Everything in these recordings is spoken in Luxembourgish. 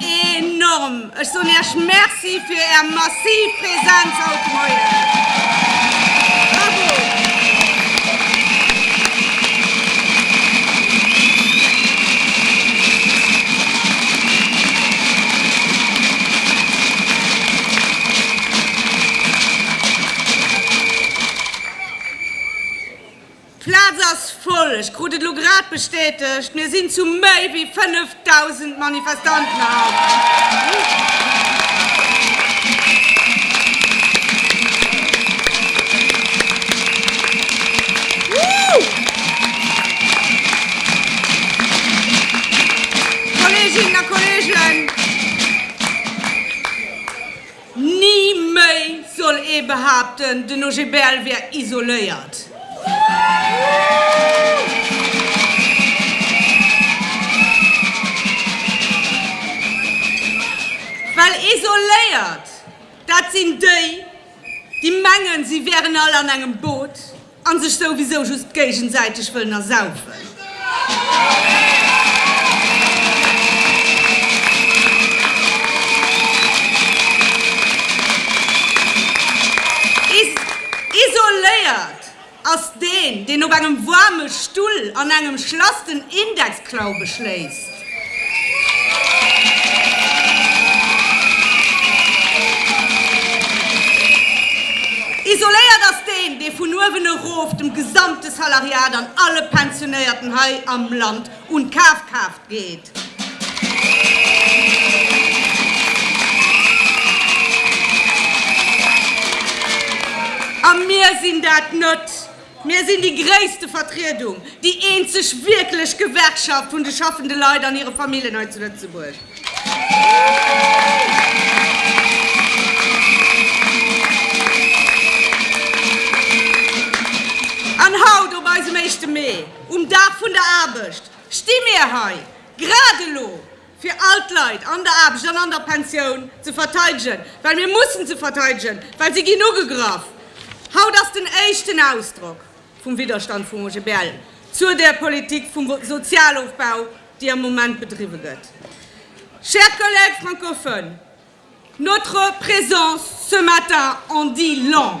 Enorm! Ech soen Iech Merci fir Är massiv Präsenz haut de Moien. Bravo! D'Plaz ass voll, ech krut et elo grad bestätegt. Mir sinn zu méi wéi 5.000 Manifestanten eraukomm. Ni méi soll ee behaapten, den OGBL wär isoléiert. Well isoléiert, dat sinn déi, déi mengen, si wären all an engem Boot. An sech souwisou just géigensäiteg wëllen ersaufen. Isoléiert ass deen, deen op engem waarme Stull an engem Schlass den Indexklau beschléisst. Isoléiert ass deen, dee vun uewen erof dem gesamte Salariat an alle Pensionéierten hei am Land un d'Kafkraaft geet. A mir sinn dat net. Mir sinn déi gréisste Vertriedung, déi eenzeg wierklech Gewerkschaft vun de schaffende Leit an hire Famillen hei zu Lëtzebuerg. An haut op eisem éischte Mee, um Dag vun der Aarbecht, sti mir hei, grad elo, fir all d'Leit an der Aarbecht an an der Pensioun ze verteidegen, well mir mussen se verteidegen, well si ginn ugegraff. Haut ass den éischten Ausdrock vum Widderstand vum OGBL zur där Politik vum Sozialofbau, déi am Moment bedriwwe gëtt. Chers collègues francophones, notre présence ce matin en dit long.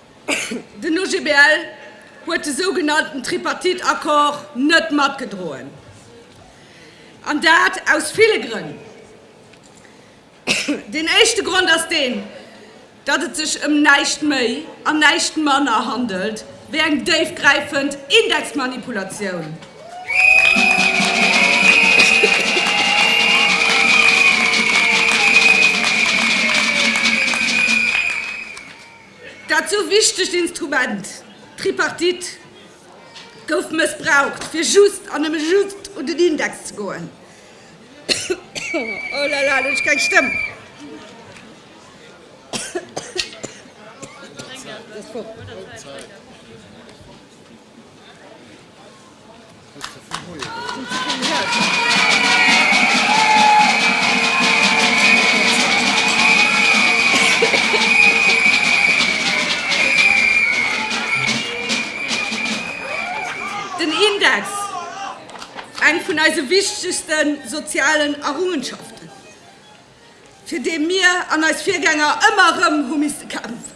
Den OGBL huet de sougenannten Tripartite-Accord net matgedroen, an dat aus ville Grënn. Deen éischte Grond ass deen, datt et sech ëm näischt méi an näischt manner handelt wéi eng déifgräifend Indexmanipulatioun. Dat esou wichtegt Instrument, d'Tripartite, gouf mëssbraucht, fir just an nëmme just un den Index ze goen. Den Index, eng vun eise wichtegste sozialen Errungenschaften, fir dee mir an eis Virgänger ëmmer erëm hu misste kämpfen.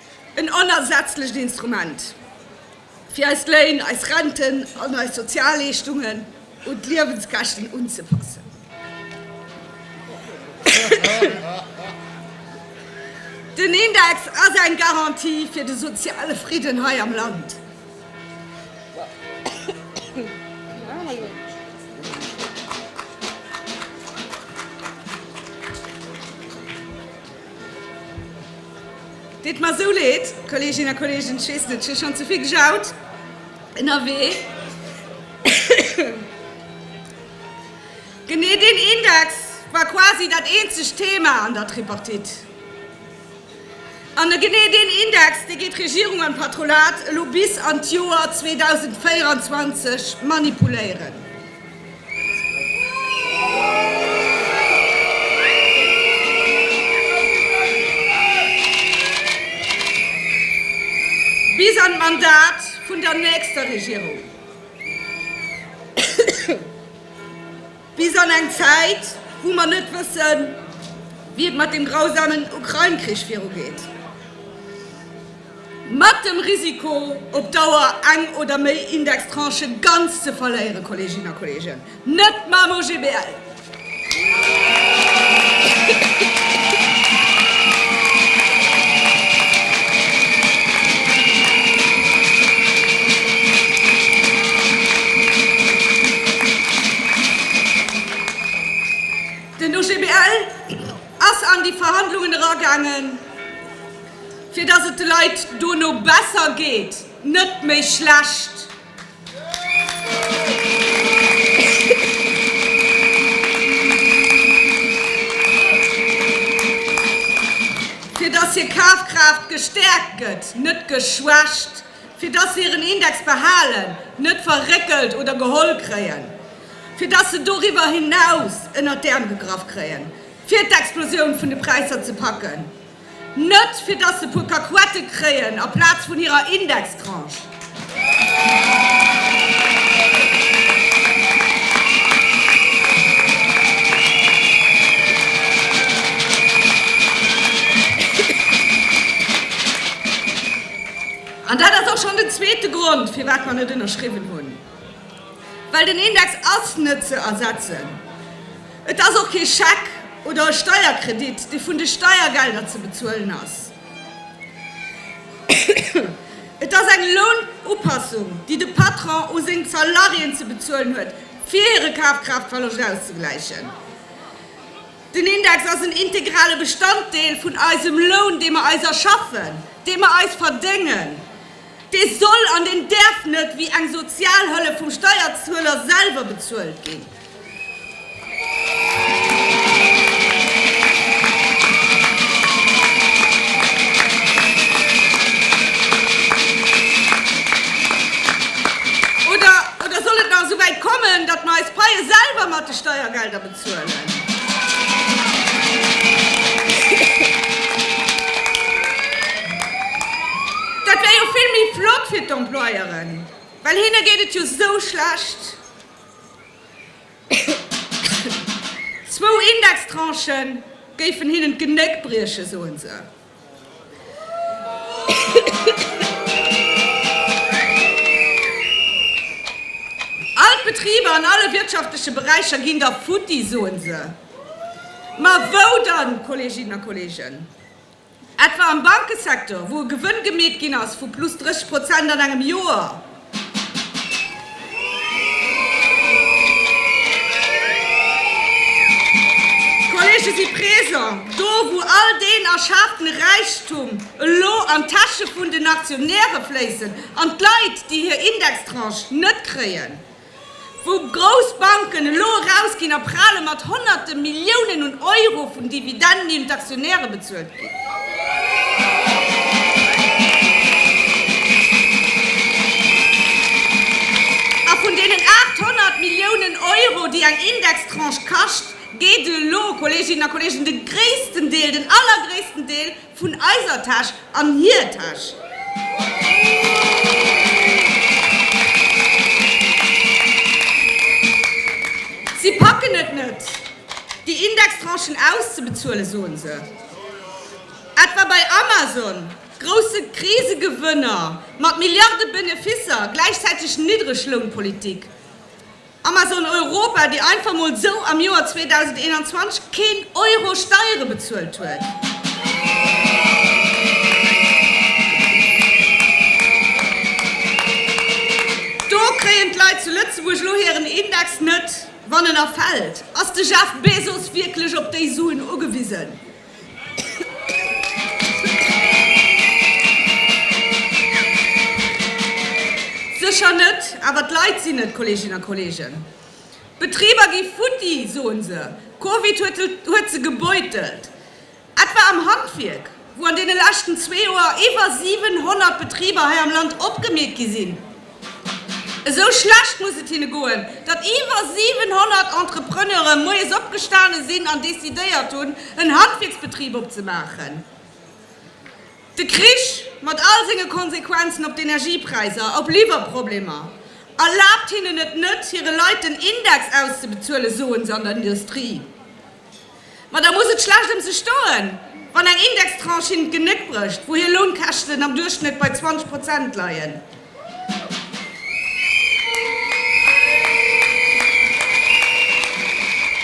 En onersetzlecht Instrument, fir eis Léin, eis Renten an eis Sozialleeschtungen un d'Liewenskäschten unzepassen. Den Index ass eng Garantie fir de soziale Fridden hei am Land. Deet mer esou leed, Kollegin a Kollegen, ech weess net, ech hu schonn ze vill gejaut ënnerwee. Genee deen Index war quasi dat eenzegt Thema an der Tripartite. An genee deen Index, dee gétt Regierung an Patronat elo bis an d'Joer 2024 manipuléieren. Bis an d'Mandat vun der nächster Regierung. Bis an eng Zäit, wou mer net wëssen, wéi et mat dem grausamen Ukrain-Krich virugeet. Mat dem Risiko, op Dauer eng oder méi Indextranchë ganz ze verléieren, Kolleeginnen a Kolleegen, net mam OGBL! Den OGBL ass an déi Verhandlungen eragaangen. Fir dass et de Leit dono besser geet, net méi schlecht. Fir dass hir Kafkraaft gestäerkt gëtt, net geschwächt. Fir dass se hiren Index behalen, net verréckelt oder geholl kréien. Fir dass se doriwwer hinaus ënnert d'Äerm gegraff kréien, fir d'Explosioun vun de Präisser ze packen. Net fir dass se puer Kakuette kréien a Plaz vun hirer Indextranche. An dat ass och schonn den zweete Grond, firwat mer net ënnerschriwwen hunn. Well den Index ass net ze ersetzen. Et ass och kee Scheck oder e Steierkredit, dee vun de Steiergelder ze bezuelen ass. Et ass eng Lounupassung, déi de Patron u seng Salariéen ze bezuelen huet, fir hire Kafkraaftverloscht auszegläichen. Den Index ass en integrale Bestanddeel vun eisem Loun, dee mer eis erschaffen, dee mer eis verdéngen. Dee soll an deen däerf net wéi eng Sozialhëllef vum Steierzueler selwer bezuelt ginn. Oder soll et nach esou wäit kommen, datt mer eis Paie selwer mat de Steiergelder bezuelen? Zuelen. Dat wär jo vill méi flott fir d'Employeuren, well hinne geet et jo sou schlecht. Zwou Indextranchen géifen hinnen d'Genéck briechen, soen se. All d'Betriber an alle wirtschaftleche Beräicher ginn da futti, soen se. Ma wou dann, Kolleeginnen a Kolleegen? Etwa am Bankesektor, wou e Gewënn gemeet ginn ass vu plus 30 Prozent an engem Joer? D'Kollege si présent, do wou all deen erschaafene Räichtum elo an d'Täsche vun den Aktionäre fléissen an d'Leit, déi hir Indextranche net kréien, wou grouss Banken elo erausginn a prale mat honnerte Milliounen un Euro vun Dividenden, déi un d'Aktionäre bezuelt ginn. A vun deenen 800 Milliounen Euro, déi eng Indextranche kascht, geet elo, Kolleeginnen a Kolleegen, de gréissten Deel, den allergréissten Deel Vun eiser Täsch an hir Täsch. Si packen et net, déi Indextranchen auszebezuelen, soen se. Etwa bei Amazon, grousse Krisegewënner mat Milliarde Beneficer, gläichzäiteg Niddreglounpolitik. Amazon Europa, déi einfach mol sou am Joer 2021 keen Euro Steiere bezuelt huet. Do kréien d'Leit zu Lëtzebuerg elo hiren Index net, wann en erfält. Ass de Jeff Bezos wierklech op déi Suen ugewisen? Sécher net, awer d'Leit sinn et, Kolleeginnen a Kolleegen. D'Betriber gi futti, soen se. Covid huet se gebeutelt. Etwa am Handwierk, wou an deene leschten zwee Joer iwwer 700 Betriber hei am Land opgemeet gi sinn. Esou schlecht muss et hinne goen, datt iwwer 700 Entrepreneure moies opgestane sinn an decidéiert hunn, en Handwierksbetrib opzemaachen. De Krich mat all senge Konsequenzen op d'Energiepräisser, op Liwwerproblemer, erlaabt hinnen et net, hire Leit den Index auszebezuelen, soen se an der Industrie. Ma da muss et schlecht ëm se stoen, wann eng Indextranche hinnen d'Genéck brécht, wou hir Lounkäschten am Duerchschnëtt bei 20 Prozent leien.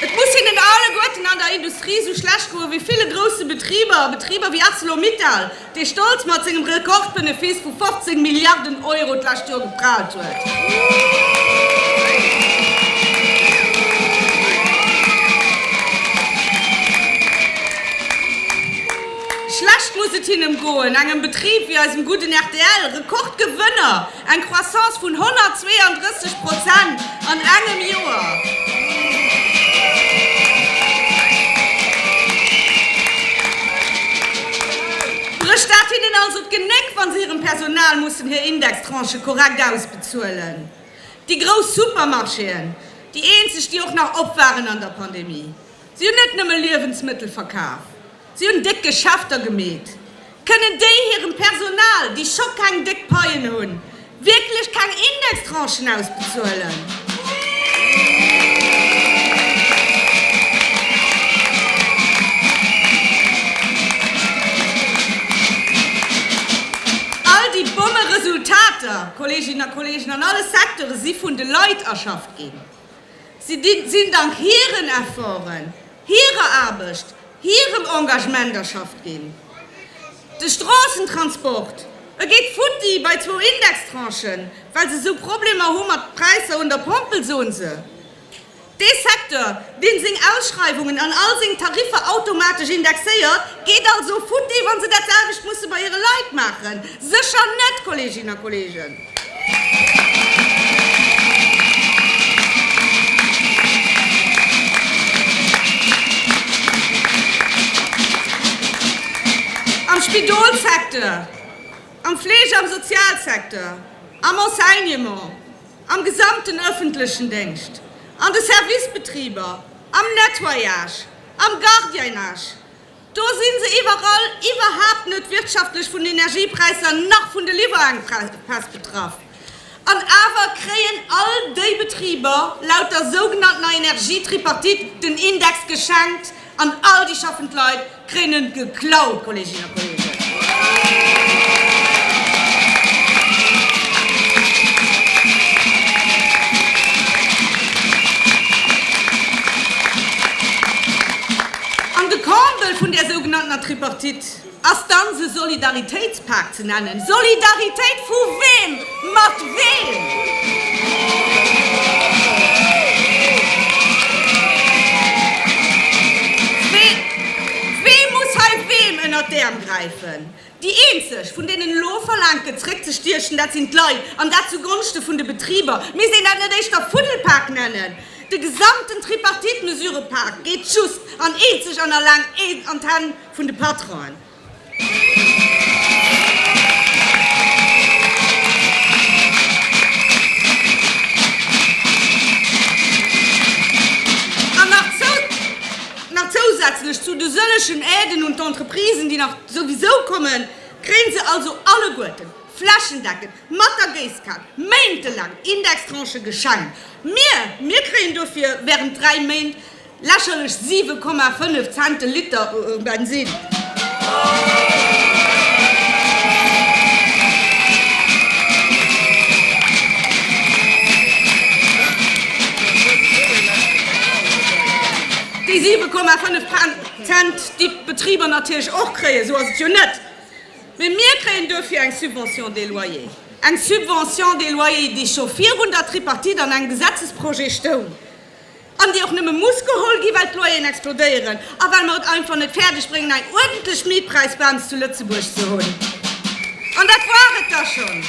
Et muss hinnen alleguerten an der Industrie esou schlecht goen, wéi ville grousse Betriber, Betriber wéi Arcelor-Mittal, dee stolz mat sengem Rekordbenefice vu 15 Milliarden Euro d'lescht Joer geprahlt huet. Schlecht muss et him goen, engem Betrib wéi eisem gudden rtl, Rekordgewënner, Eng Croissance vun 132 Prozent an engem Joer! Brécht dat hinnen also d'Genéck, wa se hirem Personal mussen hir Indextranchë korrekt ausbezuelen? Déi grouss Supermarchéen, déi eenzeg, déi och nach op waren an der Pandemie, si hunn net nëmme Liewensmëttel verkaf. Si hunn déck Geschäfter gemeet. Kënnen déi hirem Personal, déi scho keng déck Paien hunn, wierklech keng Indextranchen ausbezuelen? All déi Bommeresultater, Kolleeginnen a Kolleegen, an alle Secteure si vun de Leit erschafft ginn. Si sinn dank hiren Efforten, hirer Aarbecht, hirem Engagement erschafft ginn. De Stroossentransport, e geet futti bei zwou Indextranchen, well se esou Problemer hu mat Präisser un der Pompel, soen se. Dee Secteur, deen seng Ausschreiwungen an all seng Tariffer automatesch indexéiert, geet also futti, wa se dat selwecht musse bei hire Leit maachen? Sécher net, Kolleeginnen a Kolleegen! Am Spidolsecteur, am Fleege am Sozialsecteur, am Enseignement, am gesamten ëffentlechen Déngscht, an de Servicebetriber, am Nettoyage, am Gardiennage, Do sinn se iwwerall iwwerhaapt net wirtschaftlech vun den Energiepräisser nach vun de Liwwerengepäss betraff. An awer kréien all déi Betriber laut der sougenanntener Energietripartite den Index geschenkt an all déi schaffend Leit kréien en geklaut, Kolleeginnen a Kolleegen. An de Comble vun där sougenanntener Tripartite ass dann se Solidaritéitspak ze nennen. Solidaritéit vu weem mat weem? Wie muss hei weem ënnert d'Äerm gräifen? Déi eenzeg, vun deenen elo verlaangt gëtt zréckzestiechen, dat sinn d'Leit, an dat zu Gonschte vun de Betriber. Misst een dat net éischter Fuddelpak nennen? De gesamten Tripartite-Mesurëpak geet just an eenzeg an alleng an d'Hänn vun de Patronen. An nach zousätzlech zu de sëllegen Aiden un d'Entreprisen, déi nach. Souwisou kommen, kréien se also alleguerten flächendeckend mat der Géisskan méintelaang Indextranchen geschenkt. Mir, mir kréien dofir während 3 Méint lächerlech 7,5 Cent de Liter um Bensin. Déi 7,5 Cent. Cent, déi d'Betriber natierlech och kréien, esou ass et jo net, mee mir kréien duerfir eng Subvention de loyer, eng Subvention de loyer, déi scho virun der Tripartite an engem Gesetzesprojet stoung an déi och nëmme muss geholl ginn, well d'Loyeren explodéieren a well mer et einfach net fäerdeg bréngen, eng uerdentlech Mietpräisbams zu Lëtzebuerg ze hunn. An dat war et da schonn.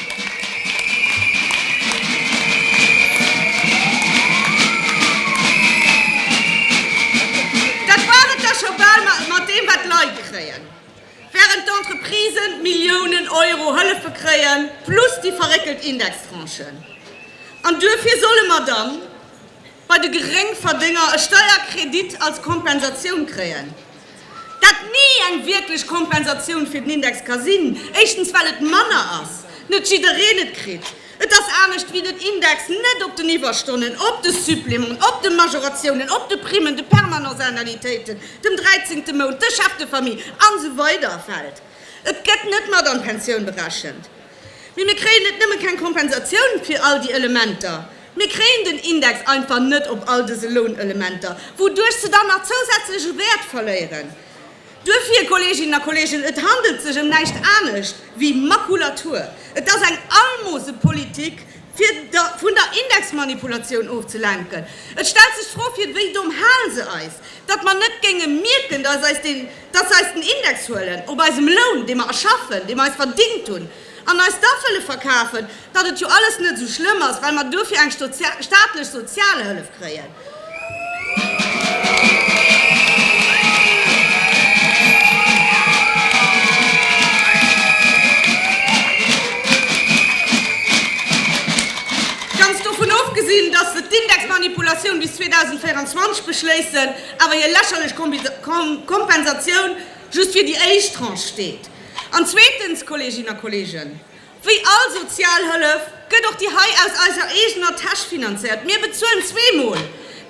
Dat war et da scho bal mat deem, wat d'Leit kréien, wärend d'Entreprisen Milliounen Euro Hëllefe kréien, plus déi verréckelt Indextranchen. An duerfir solle mer dann bei de Geréngverdénger e Steierkredit als Kompensatioun kréien, dat ni eng wierklech Kompensatioun fir den Index ka sinn, éischtens well et manner ass, net jiddereen et kritt, et ass anescht wéi den Index net op den Iwwerstonnen, op de Supplémenten, op de Majoratiounen, op de Primen, de Permanenceannualitéiten, dem dräizéngte Mount, de Chefs de famille, an esou weider fält. Et gëtt net mat an d'Pensioun berechent. Mee mir kréien net nëmme keng Kompensatioun fir all déi Elementer, mir kréien den Index einfach net op all dëse Lounelementer, wouduerch se dann nach zousätzlech u Wäert verléieren. Duerfir, Kolleeginnen a Kolleegen, et handelt sech ëm näischt anescht wéi Makulatur. Et ass eng Almosepolitik, fir vun der Indexmanipulatioun ofzelenken. Et stellt sech d'Fro, Fir wéi domm halen se eis, datt mer net géinge mierken, datt eis den. datt se eis den Index huelen op eisem Loun, dee mer erschaffen, dee mer eis verdingt hunn, an eis da wëlle verkafen, datt et jo alles net esou schlëmm ass, well mer duerfir eng staatlech Sozialhëllef kréien. Ganz dovun ofgesinn, datt se d'Indexmanipulatioun bis 2024 beschléissen. Awer hir lächerlech Kompensatioun just fir déi éischt Tranche steet. An zweetens, Kolleeginnen a Kolleegen, wéi all Sozialhëllef gëtt och déi hei aus eiser eegener Täsch finanzéiert. Mir bezuelen zweemol,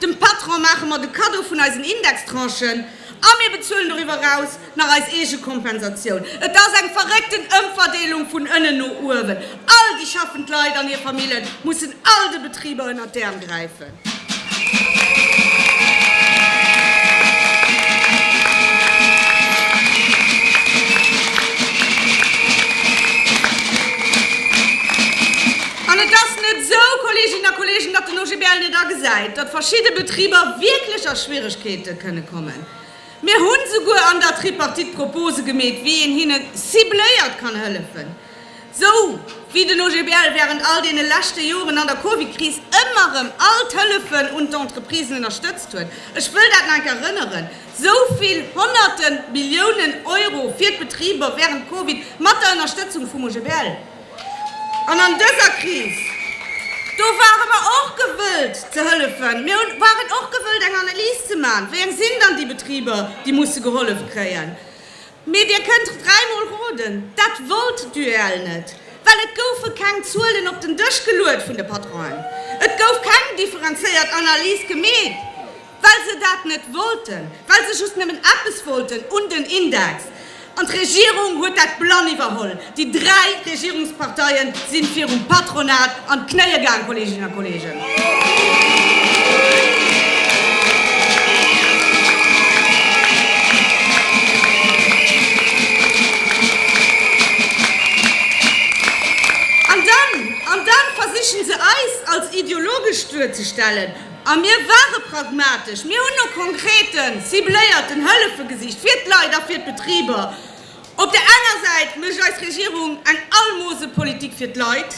dem Patron maache mer de Kaddo vun eisen Indextranchen a mir bezuelen doriwwer eraus nach eis eege Kompensatioun. Et ass eng verréckten Ëmverdeelung vun ënnen no uewen. All déi schaffend Leit an hir Familljen mussen all de Betriber ënnert d'Äerm gräifen. An et ass net esou, Kolleeginnen a Kolleegen, datt den OGBL net agesäit, datt verschidde Betriber wierklech a Schwierigkeete kënne kommen. Mir hu souguer an der Tripartite Propose gemeet, wéi een hinnen cibléiert kann hëllefen. Sou wéi den OGBL wärend all deene leschte Joren an der Covid-Kris ëmmer erëm all d'Hëllefen un d'Entreprisen ënnerstëtzt huet, ech wëll dat nach eng Kéier erënneren, sou vill honnerte Milliounen Euro fir d'Betriber wärend Covid mat der Ënnerstëtzung vum OGBL. An an dëser Kris, do ware mer och gewëllt ze hëllefen. Mir waren och gewëllt eng Analys ze maachen, wéi eng sinn dann déi Betriber, déi musse gehollef kréien. Mee dir kënnt dräimol roden, dat wollt d'UEL net, well et goufe keng Zuelen op den Dësch geluet vun de Patronen. Et gouf keng differenzéiert Analys gemeet, well se dat net wollten, well se just nëmmen eppes wollten, un den Index. An d'Regierung huet dat blann iwwerholl. Déi dräi Regierungsparteien sinn virum Patronat an d'Knéie gaang, Kolleeginnen a Kolleegen. An dann, an dann versichen se eis als ideologesch duerzestellen. A mir ware pragmatesch, mir hunn no konkreten, cibléierten Hëllefe gesicht fir d'Leit a fir d'Betriber. Op der enger Säit mécht eis Regierung eng Almosepolitik fir d'Leit.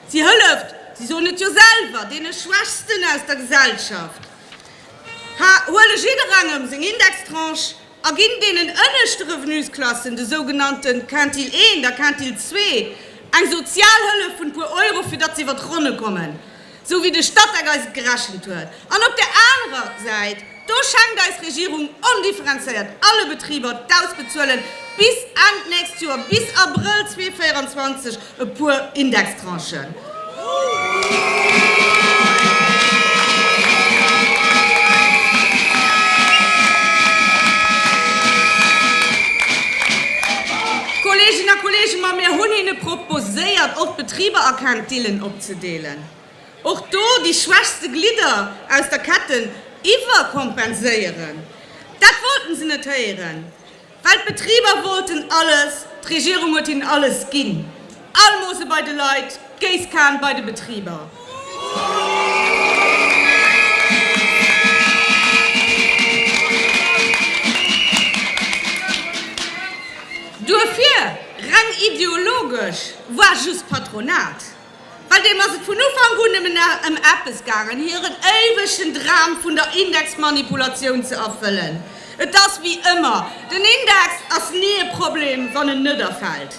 Si hëlleft, si soen et jo selwer, deene Schwächsten aus der Gesellschaft, huele jidderengem seng Indextranche a ginn deenen ënneschte Revenusklassen, de sougenannte Quintile 1 a Quintile 2, eng Sozialhëllef vun e puer Euro, fir datt se iwwer d'Ronne kommen. sou wéi de Statec eis et gerechent huet, an op där anerer Säit, do schengt eis Regierung ondifferenzéiert alle Betriber d'ausbezuelen bis Enn d'nächst Joer, bis Abrëll 2024, e puer Indextranchen. Kolleeginnen a Kolleegen, ma mir hunn hinne proposéiert, och d'Betriber a Quintillen op. ze deelen, och do déi schwächste Glidder aus der Ketten iwwerkompenséieren, dat wollten se net héieren, well d'Betriber wollten alles, d'Regierung huet hinnen alles ginn, Almose bei de Leit, d'Géisskan bei de Betriber. Duerfir, reng ideologesch, voire just Patronat. Bei deem ass et vun Ufank un nëmmen ëm eppes gaangen, hiren éiwegen Dram vun der Indexmanipulatioun ze erfëllen. Et ass wéi ëmmer, den Index ass ni e Problem, wann en net erfält.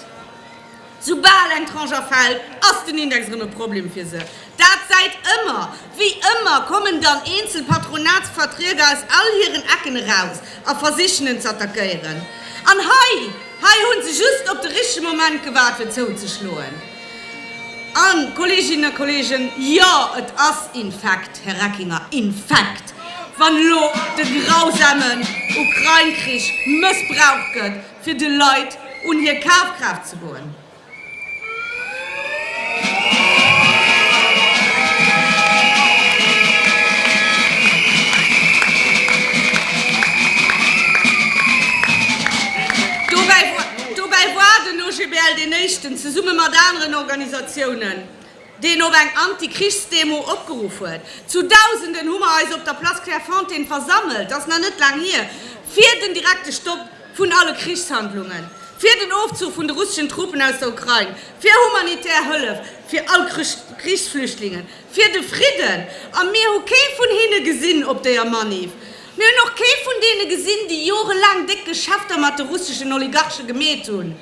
Soubal eng Tranche erfält, ass den Index erëm e Problem fir se. Dat säit ëmmer, Wéi ëmmer kommen dann eenzel Patronatsvertrieder aus all hiren Ecken eraus a versichen en z'attackéieren. An hei, hei hu se just op de richtege Moment gewaart fir zouzeschloen. A Kolleeginnen a Kolleegen, jo et ass infekt, Här Reckinger, infekt, wann elo de grausame Ukrain-Krich mëssbraucht gëtt fir de Leit un hir Kafkraaft ze goen. Dobäi woar den OGBL deen éischten, zesumme mat aneren Organisatiounen, deen op eng Anti-Krichsdemo opgeruff huet. Zu Dausenden hu mer eis op der Place Clairefontaine versammelt, dat ass nach net laang hier, fir den direkte Stopp vun alle Krichshandlungen, fir den Ofzuch vun de russeschen Truppen aus der Ukrain, fir humanitär Hëllef fir all Krichsflüchtlingen, fir de Fridden. A mir hu kee vun hinne gesinn op deeër Maniff. Mir hunn och kee vun deene gesinn, déi jorelaang déck Geschäfter mat de russeschen Oligarche gemeet hunn.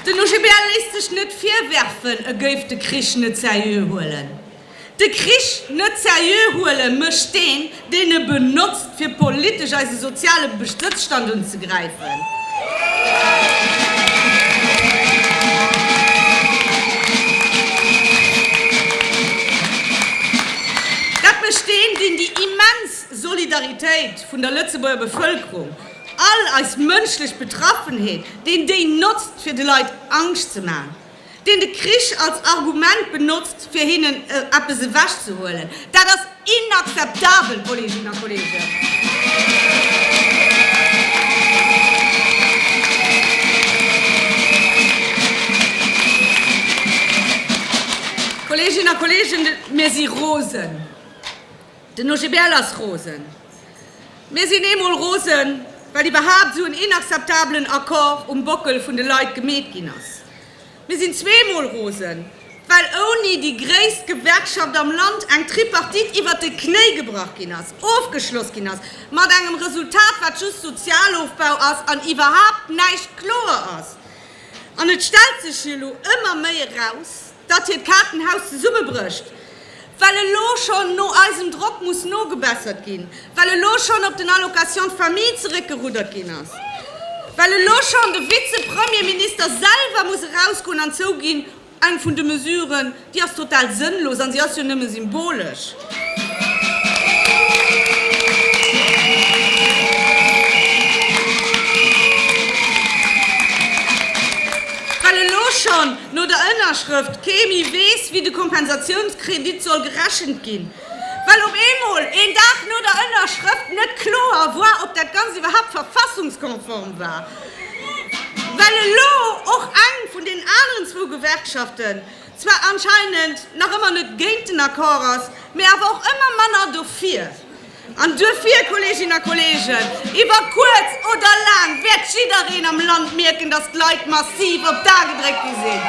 Den OGBL léisst sech net virwerfen, e géif de Krich net seriö huelen. De Krich net seriö huele mécht deen, deen e benotzt fir politesch eise soziale Bestëtzstand unzegräifen, dat mécht deen, deen déi immens Solidaritéit vun der Lëtzebuerger Bevëlkerung, all eis mënschlech Betraffenheet, deen déi notzt fir de Leit Angscht ze maachen. deen de Krich als Argument benotzt, fir hinnen eppes ewech ze huelen. Dat ass inakzeptabel, Kolleeginnen a Kolleegen! Mir si rosen. Den OGBL ass rosen. Mir sinn eemol rosen, well iwwerhaapt esou en inakzeptabelen Accord um Bockel vun de Leit gemeet ginn ass. Mir sinn zweemol rosen, well ouni déi gréisst Gewerkschaft am Land eng Tripartite iwwert de Knéi gebrach ginn ass, ofgeschloss ginn ass, mat engem Resultat, wat just Sozialofbau ass an iwwerhaapt näischt kloer ass. An et stellt sech jo elo ëmmer méi eraus, datt hiert Kaartenhaus zesummebrécht, well elo schonn no eisem Drock muss nogebessert ginn, well elo schonn op den Allocation famille zeréckgeruddert ginn ass, well elo schonn de Vize-Premierminister selwer muss erausgoen an zouginn, Eng vun de Mesuren, déi ass total sënnlos a si ass jo nëmme symbolesch. Well elo schonn no der Ënnerschrëft kee méi weess, wéi de Kompensatiounskredit soll gerechent ginn, well op eemol een Dag no der Ënnerschrëft net kloer war, ob dat Ganzt iwwerhaapt verfassungskonform war, well elo och eng vun deenen aneren zwou Gewerkschaften, zwar anscheinend nach ëmmer net géint den Accord ass, mee awer och ëmmer manner dofir. An duerfir, Kolleeginnen a Kolleegen, iwwer kuerz oder laang wäert jiddereen am Land mierken, dass d'Leit massiv op d'A gedréckt gi sinn.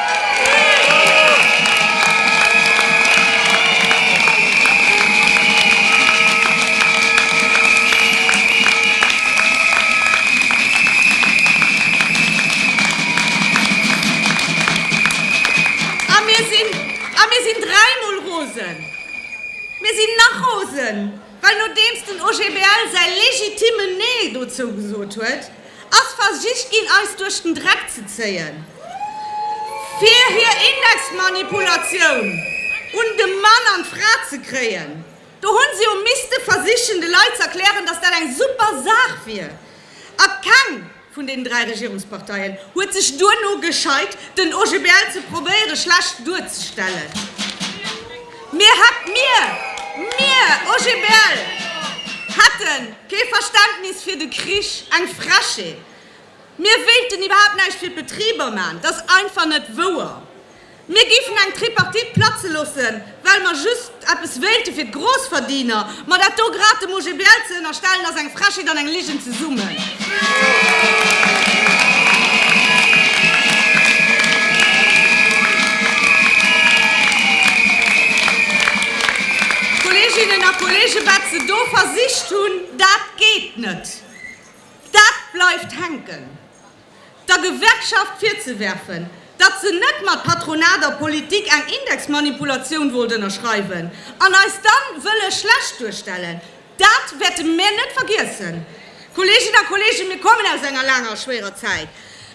A mir sinn, a mir sinn dräimol rosen, mir sinn nach rosen, well nodeems den OGBL säi legitimen Nee dozou gesot huet, ass versicht ginn eis duerch den Dreck ze zéien, fir hir Indexmanipulatioun un de Mann an d'Fra ze kréien. Do hu se jo misste versichen de Leit z'erklären, datt dat eng super Saach wier a keng, vun den dräi Regierungsparteien huet sech duerno gescheit, den OGBL ze probéiere schlecht duerzestellen. Mir hätt, mir, mir, OGBL, hätte kee Verständnis fir de Krich, eng Frechheet. Mir wéilten iwwerhaapt näischt fir d'Betriber maachen, dat ass einfach net wouer. Mir géifen eng Tripartite platze loossen, well mer just eppes wéilte fir d'Grossverdiener. Ma dat do grad dem OGBL ze ënnerstellen, ass eng Frechheet an eng Ligen zesummen. Kolleeginnen a Kolleegen, wat se do versicht hunn, dat geet net. Dat bleift hänken. der Gewerkschaft virzewerfen, datt se net mat Patronat a Politik eng Indexmanipulatioun wollt ënnerschreiwen an eis da wëlle schlecht duerstellen. Dat wäerte mir net vergiessen, Kolleeginnen a Kolleegen. Mir kommen aus enger laanger a schwéierer Zäit.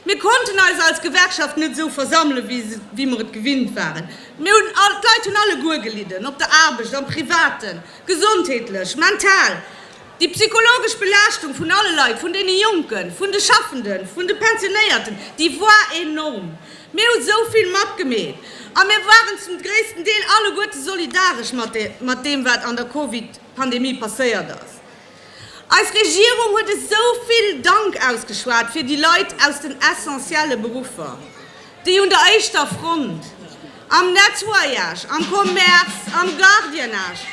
Mir konnten eis als Gewerkschaft net esou versammele wéi mer et gewinnt waren. Mir hunn, d'Leit hunn alleguer gelidden, op der Aarbecht, am Privaten, gesondheetlech, mental. Déi psychologesch Belaaschtung vun alle Leit, vun deene Jonken, vun de Schaffenden, vun de Pensionéierten, déi war enorm. Mir hu sou vill matgemeet a mir waren zum gréissten Deel alleguerte solidaresch mat deem, wat an der Covid-Pandemie passéiert ass. Eis Regierung huet esou vill Dank ausgeschwat fir déi Leit aus den essentielle Beruffer. déi un der éischter Front, am Nettoyage, am Commerce, am Gardiennage,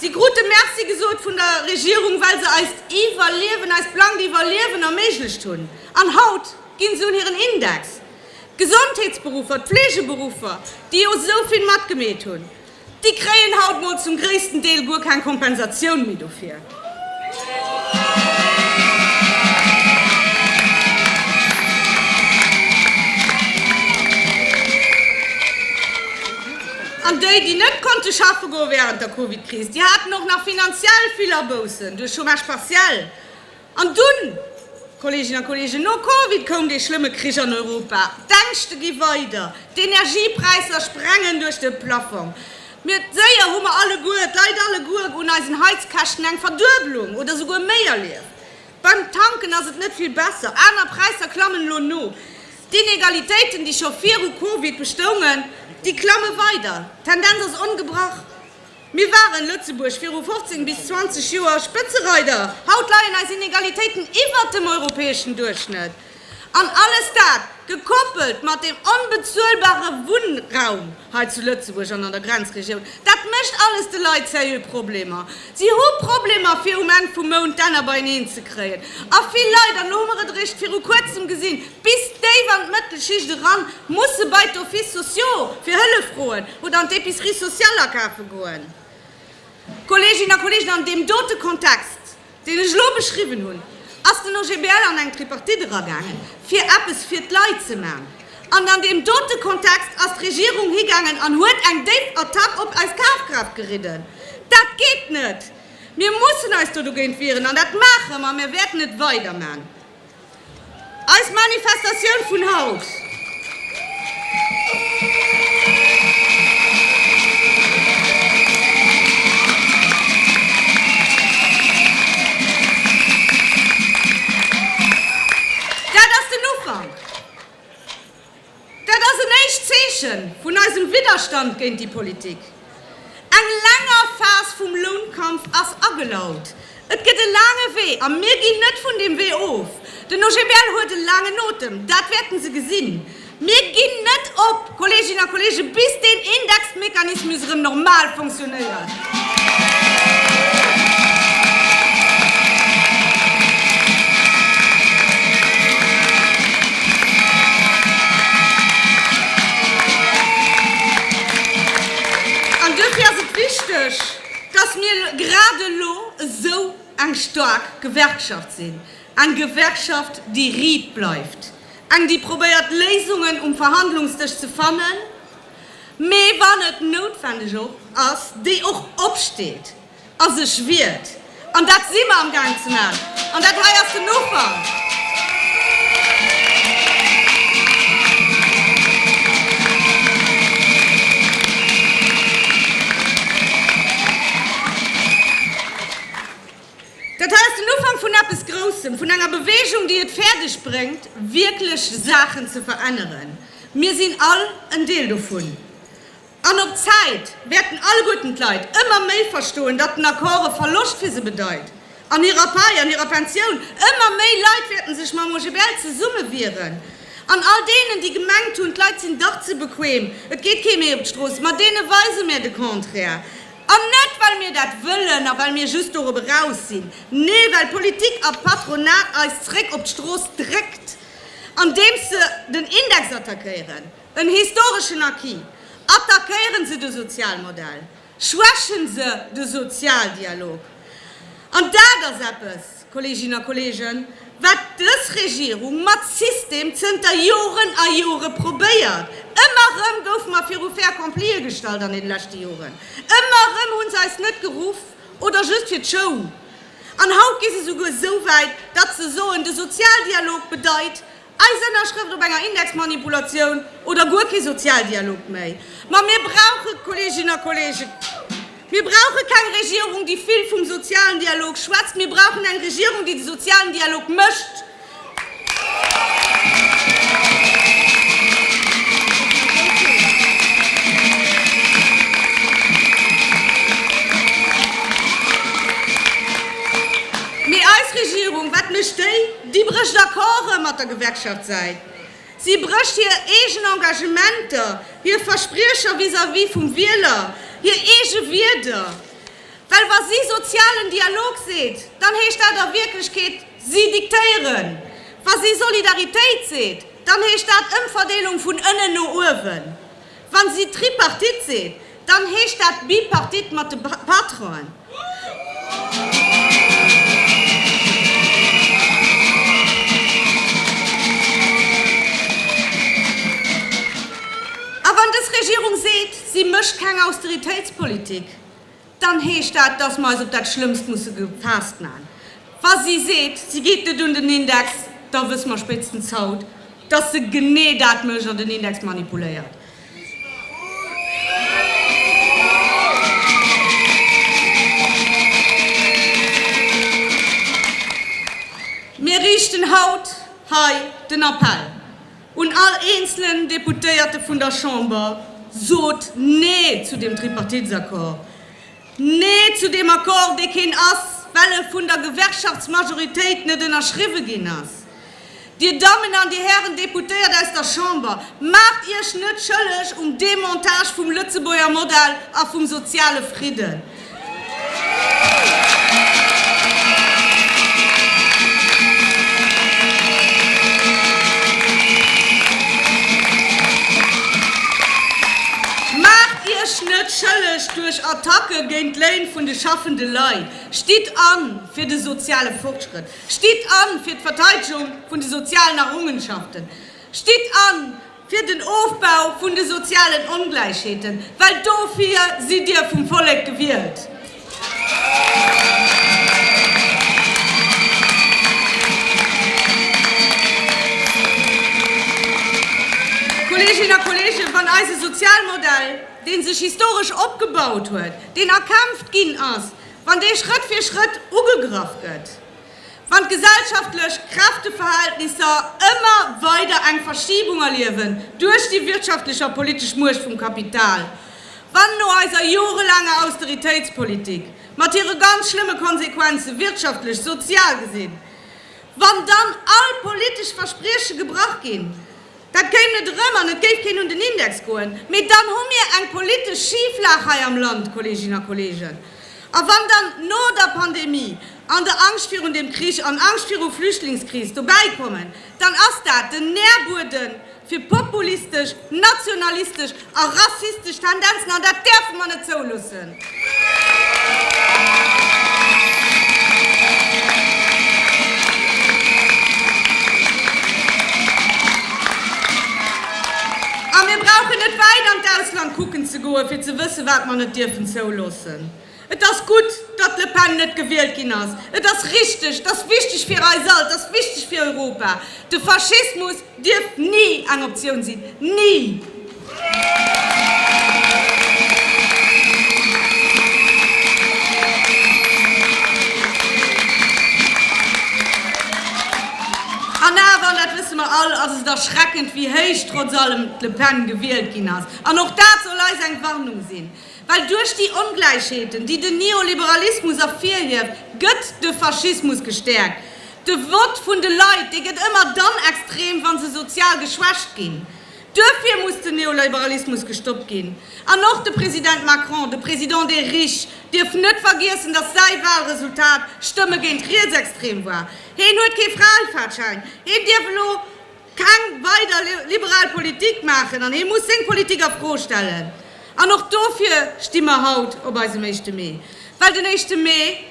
si krute Merci gesot vun der Regierung, well se eist Iwwerliewen, eist blankt Iwwerliewen erméiglecht hunn, an haut gi se un hiren Index. D'Gesondheetsberuffer, d'Pflegeberuffer, déi jo esou vill matgemeet hunn, déi kréien haut mol zum gréissten Deel guer keng Kompensatioun méi dofir. An déi, déi net konnte schaffe goe wärend der Covid-Kris, déi haten och nach finanziell vill Aboussen duerch Chômage partiel. An dunn, Kolleeginnen a Kolleegen, no Covid koum dee schlëmme Krich an Europa, d'Ängschte gi weider, d'Energiepräisser sprengen duerch de Plaffong. Mir, séier hu mer alleguer, d'Leit alleguer, un eisen Heizkäschten eng Verduebelung oder souguer méi erlieft. Beim Tanken ass et net vill besser, aner Präisser klammen elo no. D'Inegalitéiten, déi scho viru Covid bestoungen, déi klamme weider. D'Tendenz ass ongebrach. Mir waren, Lëtzebuerg, viru 15 bis 20 Joer Spëtzereider. Haut leien eis Inegalitéiten iwwert dem europäeschen Duerchschnëtt. An alles dat, gekoppelt mat dem onbezuelbare Wunnraum hei zu Lëtzebuerg an an der Grenzregioun, dat mécht alles de Leit seriö Problemer. Si hu Problemer, fir um Enn vum Mount d'Enner beieneen ze kréien. A vill Leit, an elo hu mer et eréischt viru Kuerzem gesinn, Bis déif an d'Mëttelschicht eran, muss se bei d'Offices sociaux fir Hëllef froen oder an d'Epicerie sociale akafe goen. Kolleeginnen a Kolleegen, an deem dote Kontext, deen ech elo beschriwwen hunn, ass den OGBL an eng Tripartite eragaangen, fir eppes fir d'Leit ze man. An an deem dote Kontext ass d'Regierung higaangen an huet eng déif Attack op eis Kafkraaft geridden. Dat geet net! Mir mussen eis do dogéint wieren an dat maache mer a mir wäerten et weiderman. Eis Manifestatioun vun haut dat ass den Ufank. Dat ass en éischt Zeeche vun eisem Widderstand géint déi Politik. Eng länger Phas vum Lounkampf ass agelaut. Et gëtt e laange Wee a mir ginn net vun deem Wee of. Den OGBL huet e laangen Otem, dat wäerte se gesinn. Mir ginn net op, Kolleeginnen a Kolleegen, bis deen Indexmechanismus erëm normal fonctionnéiert. An duerfir ass et wichteg, dass mir grad elo esou eng staark Gewerkschaft sinn, eng Gewerkschaft, déi riit bleift, eng, déi probéiert, Léisungen um Verhandlungsdësch ze fannen, Mee wann et noutwendeg och ass, déi och opsteet a sech wiert. An dat si mer amgaang ze maachen. An dat hei ass den Ufank. Dat hei ass den Ufank vun eppes Groussem, vun enger Bewegung, déi et fäerdeg bréngt, wierklech Saachen ze veränneren. Mir sinn all en Deel dovun. An op Zäit wäerten alleguerten d'Leit ëmmer méi verstoen, datt den Accord e Verloscht fir se bedeit an hirer Pai an hirer Pensioun. Ëmmer méi Leit wäerte sech mam OGBL zesummewieren. An all deenen, déi gemengt hunn, d'Leit sinn dach ze bequem, et geet kee méi op d'Strooss, ma deene weise mär de Contraire. An net well mir dat wëllen a well mir just dorobber eraus sinn, nee, well d'Politik a d'Patronat eis zréck op d'Strooss dréckt, andeems se den Index attackéieren, en historeschen Acquis, attackéieren se de Sozialmodell, schwächen se de Sozialdialog. An dat ass eppes, Kolleeginnen a Kolleegen, wat dës Regierung mat System zënter Joren a Jore probéiert! Ëmmer erëm goufe mer viru fait accomplie gestallt an deene leschte Joren. Ëmmer erëm hu se eis net geruff oder just fir d'Show. An haut gi se souguer esou wäit, datt se soen, de Sozialdialog bedeit, Eis Ënnerschrëft op enger Indexmanipulatioun oder guer kee Sozialdialog méi. Ma mir brauche, Kolleeginnen a Kolleegen, mir brauche keng Regierung, déi vill vum sozialen Dialog schwätzt. Mir brauchen eng Regierung, déi de sozialen Dialog mécht. Mee eis Regierung, wat mécht déi? Si brécht Accorde mat der Gewerkschaftssäit, si brécht hir eegen Engagementer, hir Verspriecher vis-à-vis vum Wieler, hir eege Wierder. Well wa si sozialen Dialog seet, dann heescht dat a Wierklechkeet, si diktéieren. Wa si Solidaritéit seet, dann heescht dat Ëmverdeelung vun ënnen no uewen. Wann si Tripartite seet, dann heescht dat Bipartite mat de Patronen. A wann dës Regierung seet, si mécht keng Austeritéitspolitik, Dann heescht dat, dass mer eis op dat Schlëmmst musse gefaasst man. Wa si seet, si geet net un den Index, da wësse mer spéitstens haut, dass se genee dat mécht an den Index manipuléiert. Mir riichten haut hei den Appell. Un all eenzelen Deputéierte vun der Chamber, Sot Nee zu deem Tripartitsaccord! Nee zu deem Accord, dee keen ass, well e vun der Gewerkschaftsmajoritéit net ënnerschriwwe ginn ass! Dir Dammen an Dir Hären Deputéiert aus der Chamber, maacht Iech net schëlleg um Demontage vum Lëtzebuerger Modell a vum soziale Fridden! Maacht Iech net schëlleg duerch Attacke géint d'Léin vun de schaffende Leit. Stitt an fir de soziale Fortschrëtt. Stitt an fir d'Verteidegung vun de sozialen Errungenschaften. Stitt an. Fir den Ofbau vun de sozialen Ongläichheeten, well dofir sidd Dir vum Vollek gewielt. Kolleeginnen a Kolleegen, wann eise Sozialmodell, dee sech historesch opgebaut huet, deen erkämpft ginn ass, wann dee Schrëtt fir Schrëtt ugegraff gëtt, Wann d'gesellschaftlech Kräfteverhältnisser ëmmer weider eng Verschiebung erliewen duerch déi wirtschaftlech a politesch Muecht vum Kapital, wann no eiser jorelaanger Austeritéitspolitik mat hire ganz schlëmme Konsequenze wirtschaftlech, sozial gesinn, wann dann all politesch Versprieche gebrach ginn, Dat kéim net erëm an et géif keen un den Index goen. Mee dann hu mir eng politesch Schiflag hei am Land, Kolleeginnen a Kolleegen. A wann dann no der Pandemie an der Angscht virun deem Krich an Angscht viru Flüchtlingskris dobäi kommen, dann ass dat den Nährbueden fir populistesch, nationalistesch A rassistesch Tendenzen, an dat däerfe mer net zouloossen! A mir brauchen net wäit an d'Ausland kucken ze goen, fir ze wëssen, wat mer net dierfen zouloossen. Et ass gutt, datt d'Le Pen net gewielt ginn ass. Et ass richteg, et ass wichteg fir eis all, et ass wichteg fir Europa. De Faschismus dierf ni eng Optioun sinn. Ni! An awer, an dat wësse mer all, ass et erschreckend, wéi héich trotz allem d'Le Pen gewielt ginn ass. An och dat soll eis eng Warnung sinn. Well duerch déi Ongläichheeten, déi den Neoliberalismus ervirhieft, gëtt de Faschismus gestäerkt. De Vott vun de Leit, dee gëtt ëmmer dann extrem, wa se sozial geschwächt ginn. Duerfir muss den Neoliberalismus gestoppt ginn. An och de President Macron, de Président des riches, dierf net vergiessen, datt säi Wahlresultat Stëmme géint rietsextrem war. Heen huet kee Fraefahrtschein. Heen dierf elo. Keng weider liberal Politik maachen an hee muss seng Politik a Fro stellen. An och dofir sti mer haut op eisem Éischte Mee. Well den Éischte Mee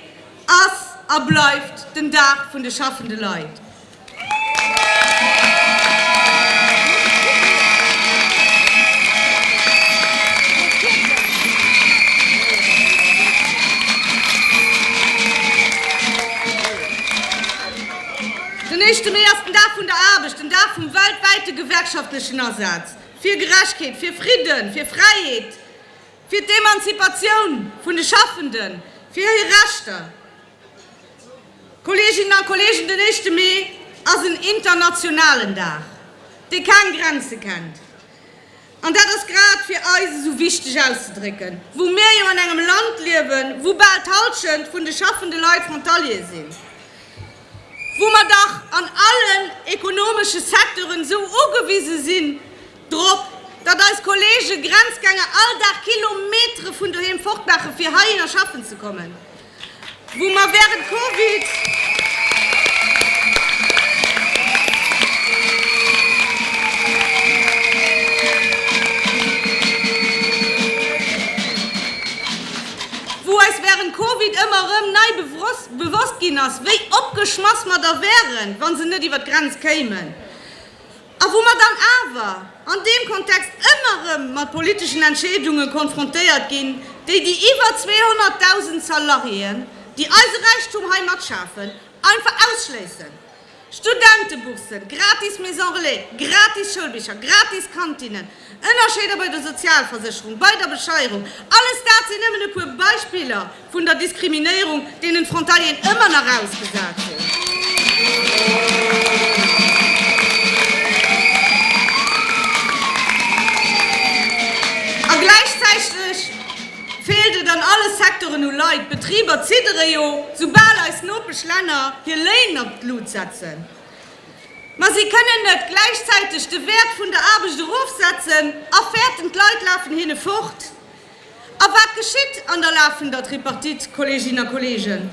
ass a bleift den Dag vun de schaffende Leit. Den éischte Mee ass den Dag vun der Aarbecht, den Dag vum weltwäite gewerkschaftlechen Asaz fir Gerechtheet, fir Fridden, fir Fräiheet, fir d'Emanzipatioun vun de Schaffenden, fir hir Rechter. Kolleeginnen a Kolleegen, den éischte Mee ass en internationalen Dag, dee keng Grenze kennt. An dat ass grad fir eis esou wichteg auszedrécken, wou mir jo an engem Land liewen, wou bal d'Hallschent vun de schaffende Leit Frontaliere sinn, wou mer dach an allen ekonomesche Secteuren esou ugewise sinn drop, datt eis Kollege Grenzgänger all Dag Kilometere vun doheem fortmaache fir heihinner schaffen ze kommen. wou mer während Covid wou eis während Covid ëmmer erëm nei bewosst ginn ass, wéi opgeschmass mer da wären, wa se net iwwer d'Grenz kéimen. A wou mer dann awer an deem Kontext ëmmer erëm mat politeschen Entscheedunge konfrontéiert ginn, déi déi iwwer 200.000 Salariéen, déi eise Räichtum hei matschafen, einfach ausschléissen. Studentebourssen, gratis Maison Relais, gratis Schoulbicher, gratis Kantinnen, Ënnerscheeder bei der Sozialversécherung, bei der Besteierung, alles dat sinn nëmmen e puer Beispiller vun der Diskriminéierung, deenen d'Frontalieren ëmmer nach ausgesat sinn. A gläichzäiteg feelt et an alle Secteuren u Leit. D'Betriber ziddere jo, soubal eis Nopeschlänner hir Léin op d'Lut setzen. Mä si kënnen net gläichzäiteg de Wäert vun der Aarbecht erofsetzen a fäerten, d'Leit lafen hinne fort. A wat geschitt an der lafender Tripartite, Kolleeginnen a Kolleegen?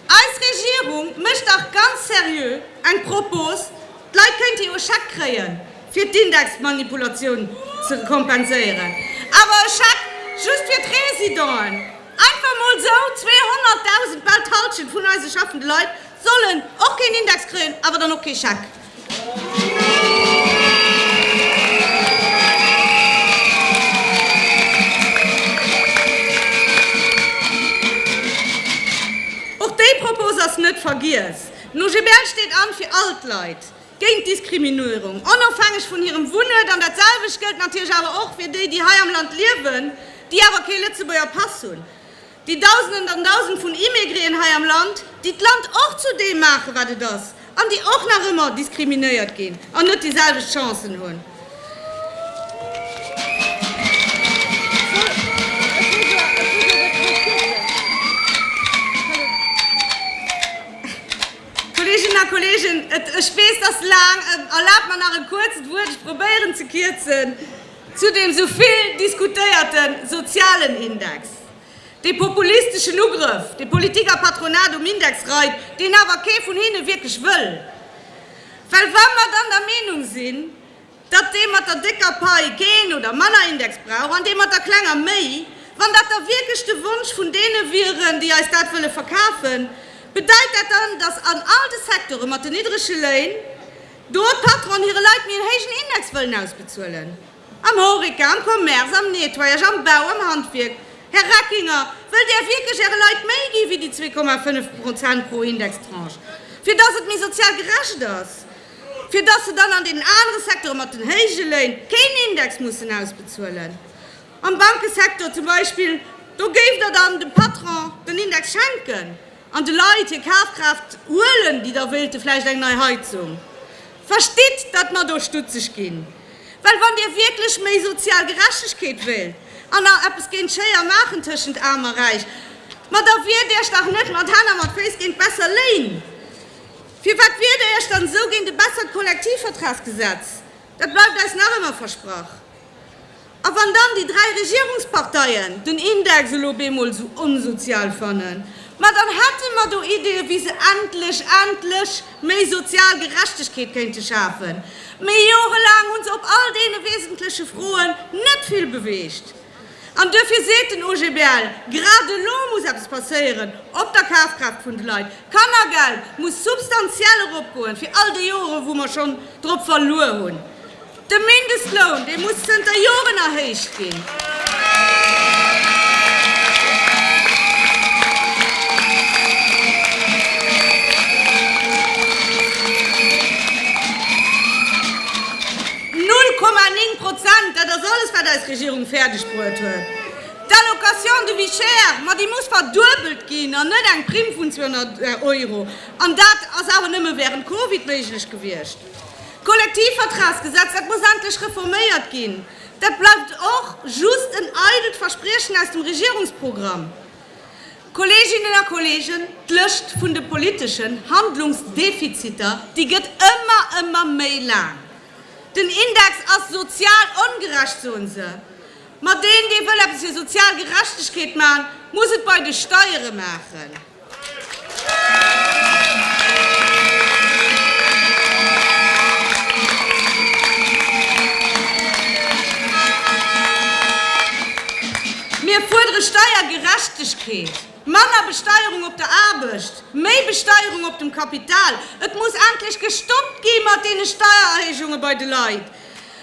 Eis Regierung mécht dach ganz seriö eng Propos, d'Leit kéinte jo e Scheck kréien, fir d'Indexmanipulatioun ze kompenséieren, awer e Scheck just fir d'Residenten, einfach mol sou 200.000, bal d'Hallschent vun eise schaffende Leit, Sollen och keen Index kréien, awer dann och kee Scheck. Och déi Propose ass net vergiess. No GBL steet an fir all d'Leit géint Diskriminuerung, onofhängeg vun hirem Wunnuert. An dat selwecht gëllt natierlech awer och fir déi, déi hei am Land liewen, déi awer kee Lëtzebuerger Pass hunn. Déi Dausenden an Dausend vun Immigreen hei am Land, déi d'Land och zu deem maachen, wat et ass, an déi och nach ëmmer diskriminéiert ginn an net déi selwecht Chancen hunn. Kolleeginnen a Kolleegen, ech weess, dat ass laang. Erlaabt mer nach e kuerzt Wuert, ech probéieren ze kierzen, zu deem esou vill diskutéierten sozialen Index. Dee populisteschen Ugrëff, dee Politik a Patronat um Index reit, deen awer kee vun hinne wierklech wëll. Well wa mer dann der Meenung sinn, datt dee mat der décker Pai keen oder manner Index brauch an dee mat der klenger méi, wann dat da wierklech de Wonsch vun deene wieren, déi eis dat wëlle verkafen, bedeit dat dann, datt an all de Secteure mat den niddrege Léin do d'Patronen hire Leit méi en héijen Index wëllen ausbezuelen? Am Horeca, am Commerce, am Nettoyage, am Bau, am Handwierk, Här Reckinger, wëllt Där wierklech Äre Leit méi gi wéi déi zwee Komma fënnf Prozent pro Indextranche, fir dass et méi sozial gerecht ass, fir dass se dann an deenen anere Secteure mat den héije Léin keen Index mussen ausbezuelen? Am Bankesecteur zum Beispill, do géift Der dann dem Patron den Index schenken an de Leit hir Kafkraaft huelen, déi da wéilte vläicht eng nei Heizung, Verstitt, datt mer do stutzeg ginn, well wann Dir wierklech méi sozial Gerechtegkeet wéilt an nach eppes géint d'Schéier maachen tëschent Aarm a Räich, ma da wiert Iech dach net mat Hänn a mat Féiss géint besser Léin! Firwat wiert Der Iech dann esou géint e bessert Kollektivvertragsgesetz? Dat bleift eis nach ëmmer versprach. A wann dann déi dräi Regierungsparteien den Index elo op eemol esou onsozial fannen, ma dann hätte mer do Ideeë wéi se endlech, endlech méi sozial Gerechtegkeet kéinte schafen. Mee jorelaang hu se op all deene wesentleche Froen net vill beweegt. An duerfir seet den OGBL, grad elo muss eppes passéieren op der Kafkraaft vun de Leit. D'Kannergeld muss substantiell eropgoen, fir all déi Joren wou mer schonn drop verluer hunn. De Mindestloun, dee muss zënter Joren erhéicht ginn. Null Komma néng Prozent, dat ass alles, wat eis Regierung fäerdegbruet huet. D'Allocation de vie chère, ma déi muss verduebelt ginn an net eng Primm vun 200 Euro. An dat ass awer nëmme wärend Covid méiglech gewiescht. D'Kollektivvertragsgesetz, dat muss endlech reforméiert ginn. Dat bleift och just en eidelt Verspriechen aus dem Regierungsprogramm. Kolleeginnen a Kolleegen, d'Lëscht vun de politeschen Handlungsdefiziter, déi gëtt ëmmer, ëmmer méi laang. Den Index ass sozial ongerecht, soen se. Ma deen, dee wëll eppes fir sozial Gerechtegkeet maachen, muss et bei de Steiere maachen. Mir fuerdere Steiergerechtegkeet, manner Besteierung op der Aarbecht, méi Besteierung op dem Kapital. Et muss endlech gestoppt gi mat deene Steiererhéijunge bei de Leit.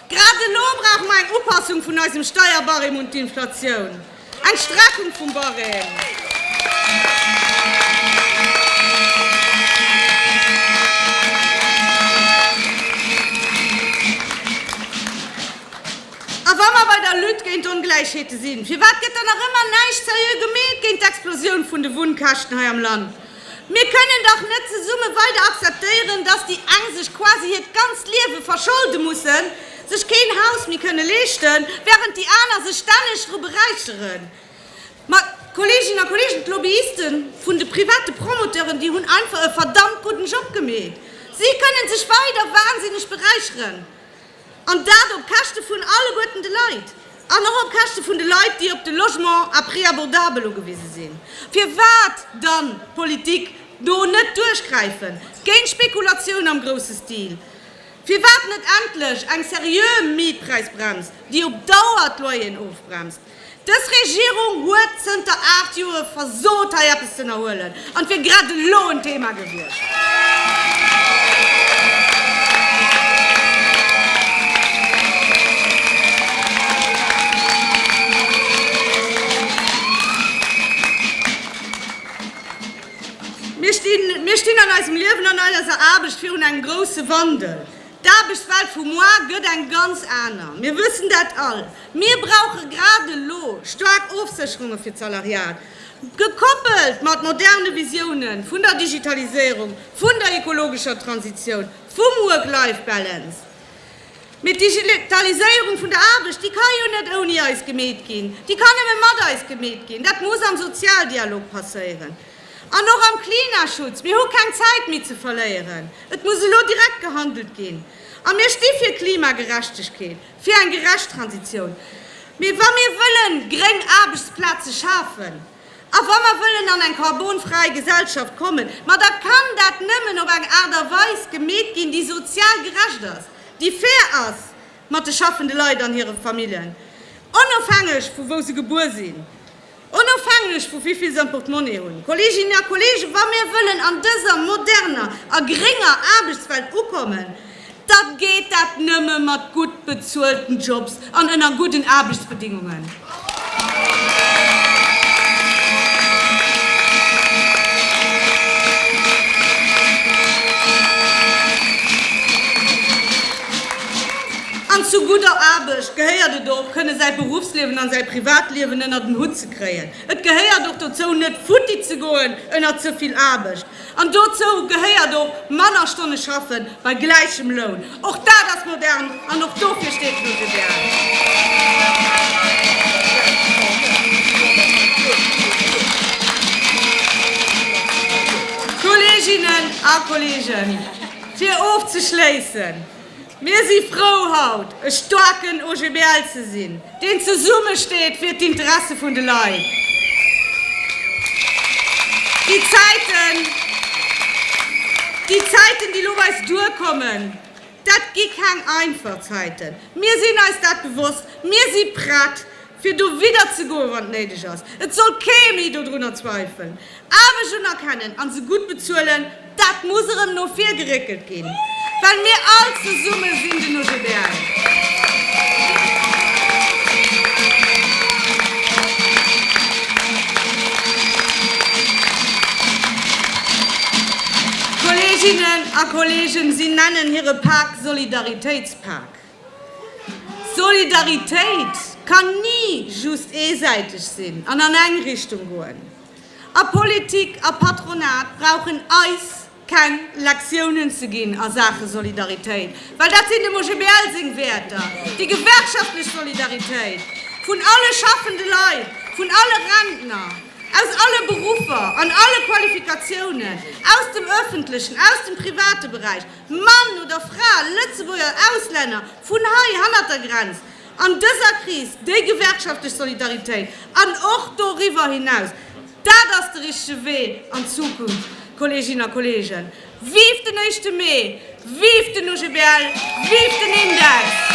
Grad elo brauche mer eng Upassung vun eisem Steierbarème un d'Inflatioun. Eng Strafung vum Barème. A wa mer bei der Lutte géint d'Ongläichheete sinn, firwat gëtt dann nach ëmmer näischt seriö gemeet géint d'Explosioun vun de Wunnkäschten hei am Land? Mir kënnen dach net zesumme weider akzeptéieren, dass déi eng sech quasi hiert ganzt Liewe verscholde mussen, sech keen Haus méi kënne leeschten, während déi aner sech stänneg dru beräicheren. Ma, Kolleeginnen a Kolleegen, d'Lobbyiste vun de private Promoteuren, déi hunn einfach e verdammt gudden Job gemeet. Si kënnen sech weider wahnsinneg beräicheren. An dat op Käschte vun alleguerten de Leit. An och op Käschte vun de Leit, déi op de Logement à prix abordable ugewise sinn. Firwat dann d'Politik do net duerchgräifen, géint d'Spekulatioun am grousse Stil? Firwat net endlech eng seriö Mietpräisbrems, déi op Dauer d'Loyeren ofbremst? Dës Regierung huet zënter aacht Joere versot hei eppes z'ënnerhuelen an et wier grad elo en Thema gewiescht. Mir stinn an eisem Liewen an eiser Aarbecht virun engem grousse Wandel. D'Aarbechtswelt vu moar gëtt eng ganz aner. Mir wëssen dat all. Mir brauche grad elo staark Ofsécherunge fir d'Salariat, gekoppelt mat moderne Visioune vun der Digitaliséierung, vun der ekologescher Transitioun, vum Work-Life-Balance. Mee d'Digitaliséierung vun der Aarbecht, déi ka jo net ouni eis gemeet ginn, déi kann nëmme mat eis gemeet ginn. Dat muss am Sozialdialog passéieren an och am Klimaschutz. Mir hu keng Zäit méi ze verléieren, et muss elo direkt gehandelt ginn a mir sti fir Klimagerechtegkeet. Fir eng gerecht Transitioun. Mee wa mir wëllen gréng Aarbechtsplaze schafen a wa mer wëllen an eng karbonfräi Gesellschaft kommen, ma da kann dat nëmmen op eng Aart a Weis gemeet ginn, déi sozial gerecht ass, déi fair ass mat de schaffende Leit an hire Familljen, onofhängeg vu wou se gebuer sinn. Onofhängeg vu wéivill se am Portemonnaie hunn, Kolleeginnen a Kolleegen, wa mir wëllen an dëser moderner a grénger Aarbechtswelt ukommen, da geet dat nëmme mat gutt bezuelten Jobs an ënner gudden Aarbechtsbedingungen. An zu gudder Aarbecht gehéiert et och, kënne säi Beruffsliewen an säi Privatliewen ënnert en Hutt ze kréien. Et gehéiert och dozou, net futti ze goen ënnert ze vill Aarbecht. An dozou gehéiert och, manner Stonne schaffen bei gläichem Loun. Och dat ass modern an och dofir steet d'LuxGuide. Kolleeginnen a Kolleegen, fir ofzeschléissen, Mir si frou haut e staarken OGBL ze sinn, deen zesumme steet fir d'Interesse vun de Leit. Déi Zäiten, déi Zäiten, déi lo bei eis duerkommen, dat gi keng einfach Zäiten. Mir sinn eis dat bewosst. Mir si prett fir do widderzegoen, wann et néideg ass, et soll kee méi dodrunner zweifeln, Aarbecht unerkennen an se gutt bezuelen, dat muss erëm no vir geréckelt ginn, well mir all zesumme sinn den OGBL. Kolleeginnen a Kolleegen, si nennen hire Pak Solidaritéitspak. Solidaritéit kann ni just eesäiteg sinn an an eng Richtung goen. A Politik a Patronat brauchen eis keng Lektiounen ze ginn a Saache Solidaritéit, well dat sinn dem OGBL seng Wäerter, déi gewerkschaftlech Solidaritéit vun alle schaffende Leit, vun alle Rentner, aus alle Beruffer an alle Qualifikatiounen, aus dem öffentlechen, aus dem private Beräich. Mann oder Fra, Lëtzebuerger oder Auslänner, vun hei, hannert der Grenz, an dëser Kris, déi gewerkschaftlech Solidaritéit an och doriwwer hinaus, dat ass de richtege Wee an d'Zukunft, Kolleeginnen a Kolleegen. Vive den éischte Mee! Vive den OGBL! Vive den Index!